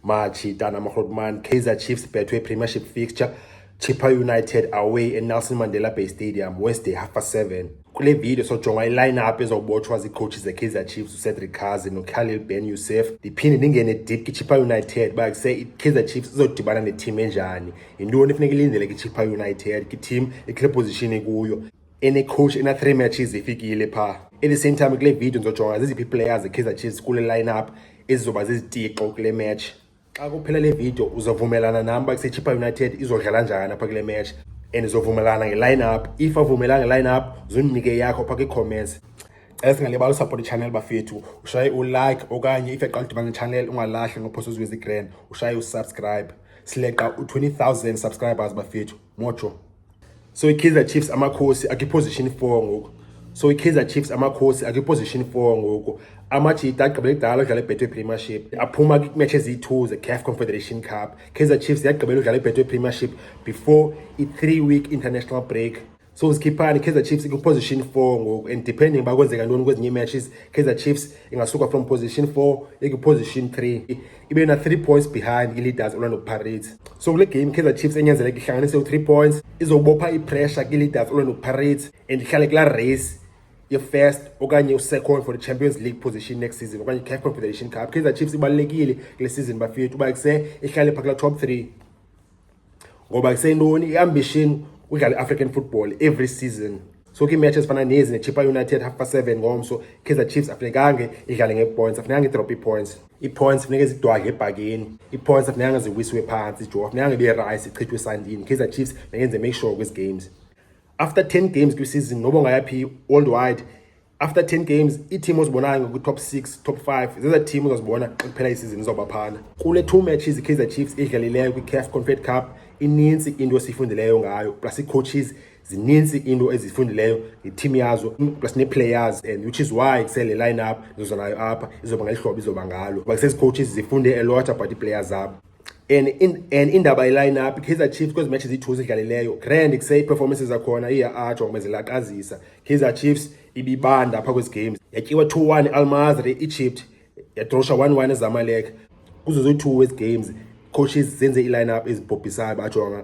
machita namagrotman kaizer chiefs betway premiership fixture chippa united away enelson mandela bay stadium wednesday half past seven kule video sojonga iline-up ezobotshwa ziicoachi zekaizer chiefs ucedric kazi nokhalil ben yusef ndiphinde ndingene deep kichippa united uba kuse ikaizer chiefs izodibana neteam enjani yintoni efuneka ilindele kichippa united kiteam ikule position ikuyo enecoach ena-three matches ifikile phaa at the same time kule video ndizojonga zeziphi iiplayers zekaizer chiefs kule line-up ezizoba zizitixo kule match xa kuphela le video uzovumelana nam uba kusechipa united izodlala njani apha kule match and izovumelana ngeline-up if avumela ngeline-up zundinike yakho phaa kwiicomments cela singalibali usupport ichannel bafethu ushaye ulike okanye if yaqala udibana nechannel ungalahli ngophosa uzwe zigrand ushaye usubscribe sileqa u-20 000 subscribers bafethu motsho so ikaizer chiefs amakhosi akwiposition 4 ngoku so ikaizer chiefs amakhosi akwiposition 4 ngoku amajita agqibele kudala udlala ibhetwe premiership aphuma kwimatch eziyi-two ze-caf confederation cup kaizer chiefs yagqibela udlala ibhetwe premiership before i-three week international break so zikhiphani kaizer chiefs ikwiposition 4 ngoku and depending uba kwenzeka ntoni kwezinye imatches kaizer chiefs ingasuka from position 4 ikwiposition 3 ibe na 3 points behind i-leaders orlando pirates so kule game kaizer chiefs enyanzeleka ihlanganise u-3 points izobopha ipressure kwi-leaders orlando pirates and ihlale kula race ye-first okanye u-second for the champions league position next season okanye i-caf confederation cup kaizer chiefs ibalulekile kule season bafethu uba kuse ihlale phaa kula top three ngoba iseyintoni iambition udlala i-african football every season so ke imatch ezifana nezi nechipa united half past seven ngomso kaizer chiefs afunekanga idlale ngeepoints afunekanga idrop ii-points ii-points funeka zidwadle ebhakeni ii-points afunekanga ziwisiwe phantsi jo afunekanga ibe rice ichithwe esandini kaizer chiefs nekenze make sure kwezi games after ten games kwisizini noba ungayaphi worldwide after 10 games iiteam ozibonayo ngokwi-top 6 top 5 zeza team uzazibona xa kuphela isizini zoba phana kule two matches ikaizer chiefs idlalileyo kwicaf confed cup ininzi into esiyifundileyo ngayo plus iicoaches zininzi into ezifundileyo ngeteam yazo plus nee-players and which is why kusele line up ndizoza nayo apha izoba ngeli hlobo izoba ngalo kuba kusezicoaches zifunde elota about iiplayers zabo and in, and indaba yelineup Kaizer Chiefs kwezi matches ziyi-two zidlalileyo grand kuse ii-performances zakhona iya-ajo ngoba zilaqazisa Kaizer Chiefs ibibanda apha kwezi games yatyiwa 2-1 i-almazri i-egypt yadrosha 1-1 ezamalek kuzo zoyi-two wezi games coaches zenze ii-lineup ezibhobhisayo bajonga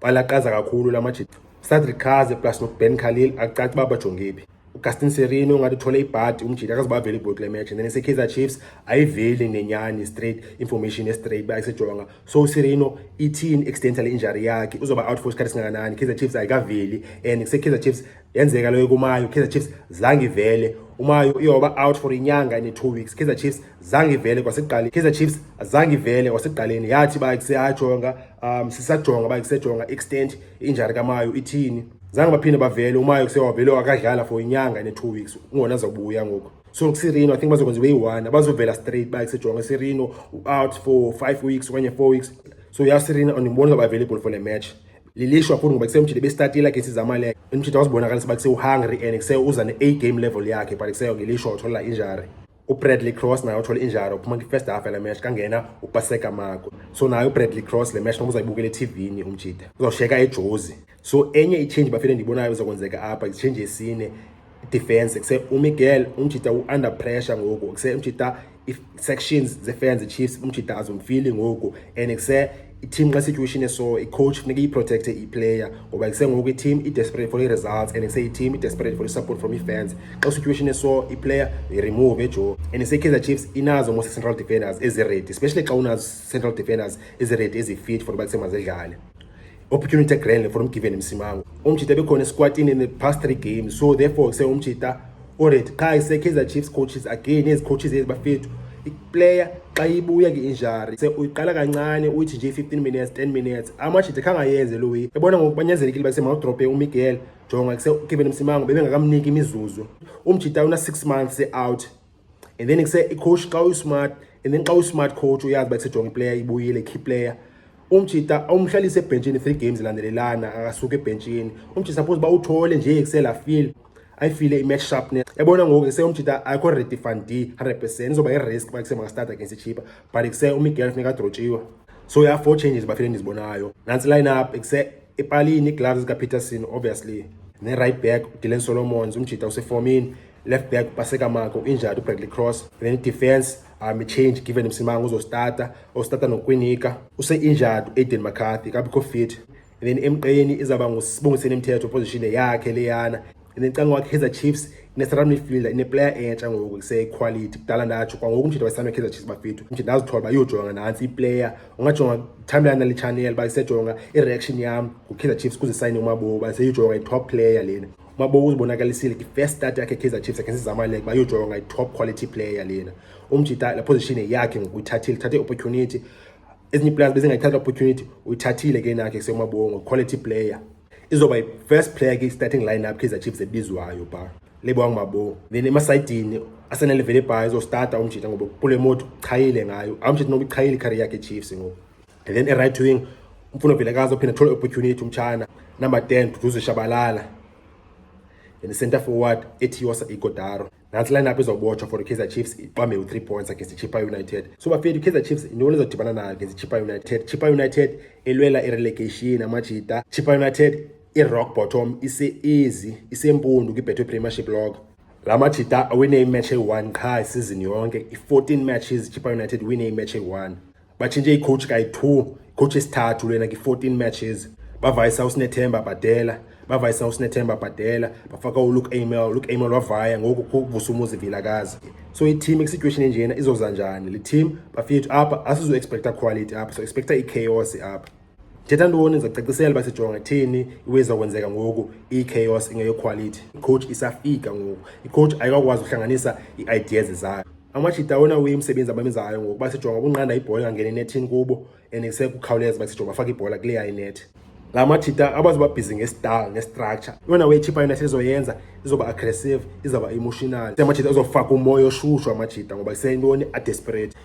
balaqaza kakhulu la majita usadrick kaze plus noben khalil akucaci uba bajonge phi ugastin serino ungathi uthole ibhadi umjita akaze bavele ibhodi kule match and then isekaizer chiefs ayiveli nenyani straight information ye-straight uba ayisejonga so userino ithini extent le injury yakhe uzoba out for isikhathi singakanani kaizer chiefs ayikaveli and kusekaizer chiefs yenzeka leyo kumayo kaizer chiefs zange ivele umayo iyoba out for inyanga ne-two weeks kaizer chiefs zange ivele kwasekuqaleni kaizer chiefs zange ivele kwasekuqaleni yathi ba kuseyajonga um sisajonga uba kusejonga extent injari kamayo ithini zange baphinde bavele umayo kusewavele wakadlala for inyanga ne-two weeks ungona zawubuya ngoku so kusirino i think bazokwenza ibe yi-one abazovela straight uba kusejonga isirino out for five weeks okanye four weeks so yasirino andiboni ngaba available for le match lilishwa futhi ngoba kusemjile besitatile against izamaleko umjida wazibonakalisa uba kusewuhungry and kuseuza ne-a game level yakhe but kuseyongelishwa utholela injari ubradley cross naye uthole injara uphuma kwi-first half yale match kangena upaseka mako so naye ubradley cross le match noba uzayibukela ethivini umjida uzawusheka ejozi so enye itshenji bafele ndiyibonayo izakwenzeka apha itshenji esine defense kuse umiguel umjita u-under pressure ngoku kuse umjita i-sections ze-fans chiefs umjita azomfili ngoku and kuse i-team xa situation eso i-coach funeka iyiprotecte iplayer ngoba kusengoku i-team i-desperate for i-results and ise-team i-desperate for i-support from i-fans xa situation eso iplayer uyiremove ejo and ise-kaizer chiefs inazo most central defenders eziredi especially xa unazo central defenders eziredi ezifit for uba kusemazidlale opportunity grand for umgiven msimango umjita bekhona esikwatini in the past three games so therefore kuse umjita Alright, qha isekheza Chiefs coaches again ezi coaches ezi bafethu. Iplayer xa ibuya ke injury se uyiqala kancane uyithi nje 15 minutes 10 minutes amajide khangayenze lo way ebona ngokubanyanzelekile bakuse mawudrope uMiguel jonga kuse uKevin Msimango bebengakamniki imizuzu umjita una 6 months out and then kuse icoach xa uyismart and then xa uyismart coach uyazi bakusejonga iplayer ibuyile key player umjita umhlalise ebhentshini three games landelelana akasuka ebhentshini umjita suppose uba uthole nje ekusela feel ayifile i-match sharpness yabona ngoku ke seyomjita ayikho ready fan d 100 percent izoba i-risk uba kuse makastart against ichipa but kuse umiguel funeka adrotshiwe so ya four changes bafile endizibonayo nantsi line up kuse ipalini ii-gloves zikapeterson obviously ne-right back udylan solomons umjita usefomini left back upasekamako injati ubradley cross then idefense um change given msimanga uzostata ostata nokwinika use-injured uaiden mccarthy kabikho fit and then emqeni izawuba ngusibongiseni mthetho position yakhe leyana and then canga wakhe chiefs ne-central midfielder ineplayer entsha ngoku kuseyiquality kudala ndatsho kwangoku umjida wayisanwe ikaizer chiefs bafethu umjida ndazithola uba iyojonga nantsi iplayer ungajonga timeline nale channel uba isejonga i-reaction yam ngukaizer chiefs kuze isayine umaboba seyijonga i-top player lena Mabo uzibonakalisile ke first start yakhe Kaizer Chiefs against Zamalek bayojoywa ngayi top quality player lena. Umjita la position yakhe ngokuyithathile, thathe opportunity. Ezinye players bezingayithatha opportunity, uyithathile ke nakhe seMabongo quality player. Izoba yi first player ke starting lineup Kaizer Chiefs ebizwayo ba. Lebo angibabo. Then emasayidini asenele vele bhayi uzostata umjita ngoba kule moto chayile ngayo. Awumjita nokuchayile career yakhe Chiefs ngoba and then e-right wing umfuno vilakazi ophinde athole opportunity umtshana number 10 duduzo shabalala and center forward etiosa igodaro nantsi line up izobotshwa for ikaizer chiefs iqwambe u-three points against ichipa united so bafethu ikaizer chiefs intoni izodibana nayo against ichipa united chipa united elwela irelegation amajita chipa united irock bottom ise-easy isempundu kwibhetho premiership log la majita awine imatch eyi-one qha isizini yonke i-14 matches ichipa united wine imatch eyi-one batshintshe icoach kayi-two icoach esithathu lena ki-fourteen matches bavayisa usinethemba bhadela bavayisa usinethemba bhadela bafaka uluke amel uluke amel wavaya ngoku kuvusa umuzi vilakazi so iteam kwisituation enjena izoza njani le team bafika apha asizoexpecta quality apha so expecta ichaos apha Thetha ntoni ndizacacisela uba sijonga ithini iweza kwenzeka ngoku i-chaos ingeyokhwalithi icoach isafika ngoku icoach ayikakwazi ukuhlanganisa ii-ideas zayo amajita awona uye umsebenzi abamenzayo ngoku uba sijonga ukunqanda ibhola engangeni enethini kubo and kusekukhawuleza uba sijonga bafake ibhola kuleya inethi la majita abazobabhizi ngestal ngestructure yona way ichipa yona sizoyenza izoba aggressive izawuba emotional amajita azofaka umoya oshushu amajita ngoba iseyintoni adesperate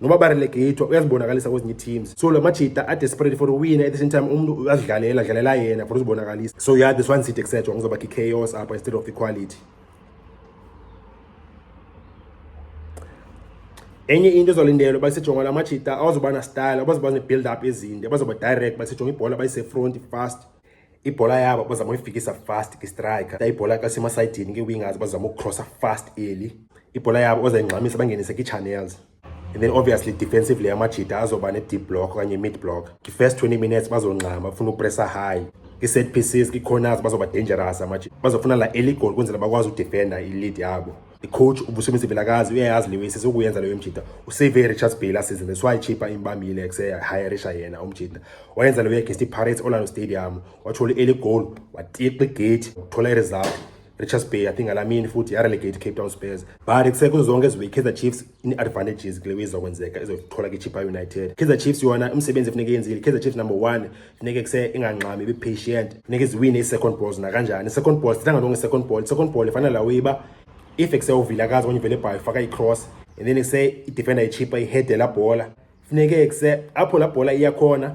noba barelegator uyazibonakalisa kwezinye iteams so la majita adesperate for uwina at the same time umntu uyazidlalela adlalela yena for uzibonakalisa so yeah this one sit etc ngizoba ki-chaos apha instead of equality enye into ezolindelwe bayisejonga la majita awazoba na-style abazoba ne-build up ezinde bazoba direct bayisejonga ibhola bayisefront fast ibhola yabo bazama uyifikisa fast kwistriker ta ibhola kasemasayidini kwi-wingers bazama ukucrossa fast eli ibhola yabo ozayingxamisa bangenise kii-channels and then obviously defensively amajita azoba ne-deep block okanye mid block kwi-first 20 minutes bazongxama bafuna upressa high kwi-set pieces kwi-corners bazoba dangerous amajita bazofuna la eli goal ukwenzela bakwazi udefenda i-lead yabo icoach ubusebenzi vilakazi uyayazi le wesi sokuyenza leyo mjita usave i-richards bay last season that's why ichipa imbambile kusehayirisha yena umjita wayenza leyo against i-pirates orlando stadium wathola i-early goal watiqa igate wathola i-result richards bay i think alamini futhi yarelegate cape town spurs but kusekho zonke ezibe i-kaizer chiefs ine-advantages kule weyizokwenzeka ezothola ke-chipa united kaizer chiefs yona umsebenzi efuneka yenzile kaizer chiefs number one funeke kuse ingangxami ibipatient funeke ziwine ii-second balls nakanjani i-second ball sithanga lonke i-second ball i-second ball ifanela uyiba if kuse uvilakazi okanye uvele ibhayo ifaka i-cross and then kuse idefenda ichipa ihede la bhola funeke kuse apho la bhola iyakhona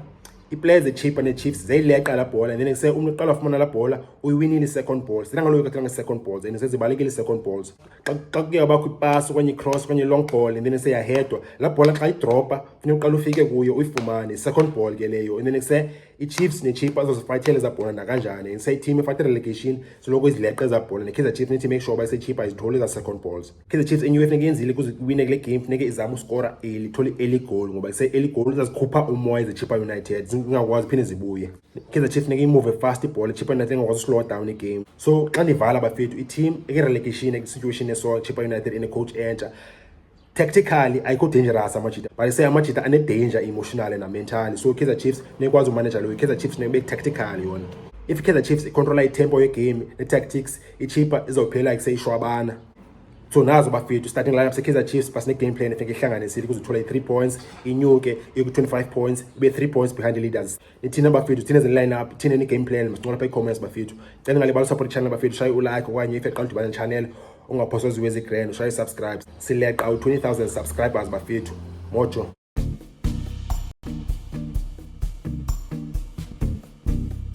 iplayers echipa nechiefs zeyileqa la bhola and then kuse umntu uqala wafumana la bhola uyiwinile i-second balls sithanga lonke kathanga i-second balls and sezibalekile i-second balls xa xa kuye wabakho ipasi okanye icross okanye i-long ball and then seyahedwa laa bhola xa idropa funeka uqala ufike kuyo uyifumane i-second ball ke leyo and then kuse ichiefs nechipa azozifayithela ezaa bhola nakanjani and seyiteam efayithe relegation soloko izileqe ezaa bhola nekaizer chiefs need to make sure uba isechipa izithole ezaa second balls kaizer chiefs enye funeka yenzile kuze iwine kule game funeka izame uskora eli thole eli goal ngoba ise-eli goal izazikhupha umoya izechipa united zingakwazi phinde zibuye Kaizer Chiefs funeka imuve fast ibhola ichipa united engakwazi uslowa down igame so xa ndivala bafethu iteam ekerelegation ekwisituation eso chipa united enecoach entsha tactically ayikho dangerous amajita but se amajita anedanger emotionally namentally so kaizer chiefs nekwazi umanaja loyo kaizer chiefs nebe tactical yona if kaizer chiefs icontrola itempo yegame netactics ichipa izophela kuseyishwabana so nazo bafethu starting lineup sekaizer chiefs but ne-game plan efuneka ihlanganisile kuze uthole i-three points inyuke iku-25 points ibe-three points behind the leaders ithina bafethu thina eziline up thina ni-game plan masincola pha i-comments bafethu cela ngale balusupport ichannel bafethu shaye ulike okanye if eqala udibane channel ungaphoswa ziwe zigrand ushaye i-subscribe sileqa u-20 000 subscribers bafethu mojo